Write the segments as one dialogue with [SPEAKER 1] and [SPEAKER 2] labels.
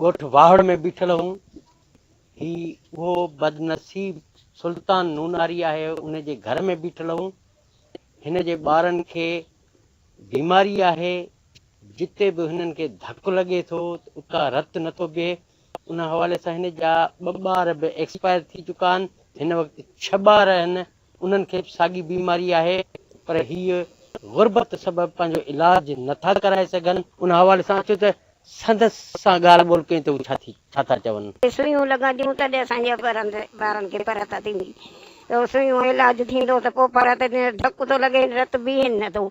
[SPEAKER 1] ڳوٺ واهڙ ۾ بيٺل هئون. هي اهو بدنصيب سلطان نوناري آهي، ان جي گهر ۾ بيٺل هئون. هن جي ٻارن کي بيماري آهي، جتي به هنن کي ڌڪ لڳي ٿو ته اتان رت نه ٿو بيهي. ان حوالي سان هن جا ٻه ٻار به ايڪسپائر ٿي چڪا آهن. هن وقت ڇهه ٻار آهن ۽ انهن کي به ساڳي بيماري آهي پر هي غربت سبب پنهنجو علاج نه ٿا ڪرائي سگهن. ان حوالي سان اچو ته سندس سان ڳالهه ٻولهه ڪئين ته هو ڇا ٿي ڇا ٿا چون. جي سوئيون لڳنديون تڏهن
[SPEAKER 2] اسان جي ٻرن ٻارن کي فرحت ٿيندي ته سوئيون علاج ٿيندو ته پوء فرحت ٿيندي نه ڌڪ ٿو لڳي رت بيهين نه ٿو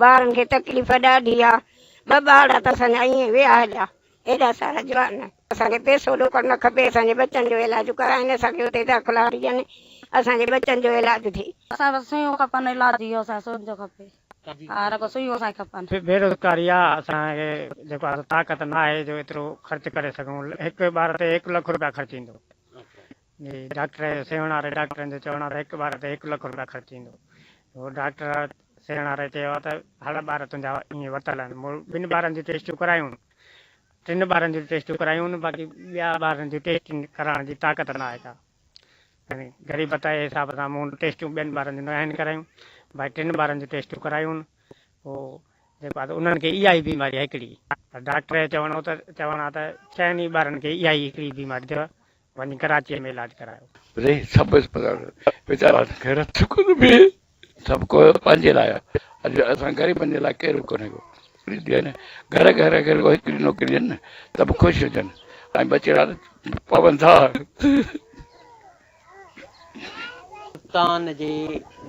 [SPEAKER 2] ٻارن کي تڪليف ڏاڍي آ ٻه ٻارڙا ته اسان جا ائين ويا هليا ايڏا سارا جوان اسان کي پئسو ڏوڪڙ نه کپي اسان جي ٻچن جو علاج ڪرائين اسان کي اتي داخلا ڏين اسان جي ٻچن جو علاج ٿئي. اسان کي بس سوئيون کپن
[SPEAKER 3] علاج جي اسان کي سوڄ کپي ها رڳو سوئيون اسان کي کپن. بيروزگاري آ
[SPEAKER 4] اسان کي جيڪو آ سو طاقت نه آهي جو ايترو خرچ ڪري سگهون هڪ ٻار تي هڪ لک روپيا خرچ ايندو جي ڊاڪٽر سيوهڻ واري ڊاڪٽرن جو چوڻ آ ته هڪ ٻار تي هڪ لک روپيا خرچ ايندو هو ڊاڪٽر سيوهڻ واري چيو آ ته هڙ ٻار تنهنجا ائين ورتل آهن مون ٻن ٻارن جون ٽيسٽون ڪرايون ٽن ٻارن جون ٽيسٽون ڪرايون باقي ٻيا ٻارن جون ٽيسٽون ڪرائڻ جي طاقت نه آهي ڪا يعني غريبت جي حساب سان مون ٽيسٽون ٻين ٻارن جون نه آهن ڪرايون باقي ٽن ٻارن جون ٽيسٽون ڪرايون هو جيڪو آهي انهن کي اها ئي بيماري آهي هڪڙي پر ڊاڪٽر جو چوڻ هو ته چوڻ آهي ته ڇهن ئي ٻارن کي اها ئي هڪڙي بيماري اٿيو وڃ ڪراچيء ۾ علاج ڪرايو. ري سڀ اسپتال
[SPEAKER 5] ويچارا غيرت سڪون ۾ سڀ ڪو پنهنجي لاء اڄ اسان غريبن جي لاء ڪير به ڪونهي ڪو ڏي ڏي نه گهر گهر اگر ڪو هڪڙي نوڪري ڏين نه ته به خوش هجن ۽ ٻچڙا پون ٿا.
[SPEAKER 1] سلطان جي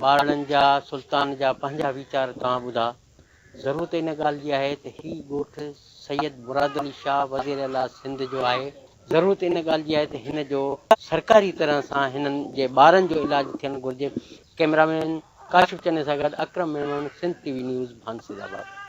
[SPEAKER 1] ٻارڙن جا سلطان جا پنهنجا ويچار توهان ٻڌا. ضرورت ان ڳالهه جي آهي ته هي ڳوٺ سيد مراد علي شاهه وزير اعليٰ سنڌ جو آهي. ضرورت ان ڳالهه جي آهي ته هن جو سرڪاري طرح سان هنن جي ٻارن جو علاج ٿيڻ گهرجي، ڪئميرامين ڪاشف چني سان گڏ Akram Memon Sindh T V news ڀانسيد آباد.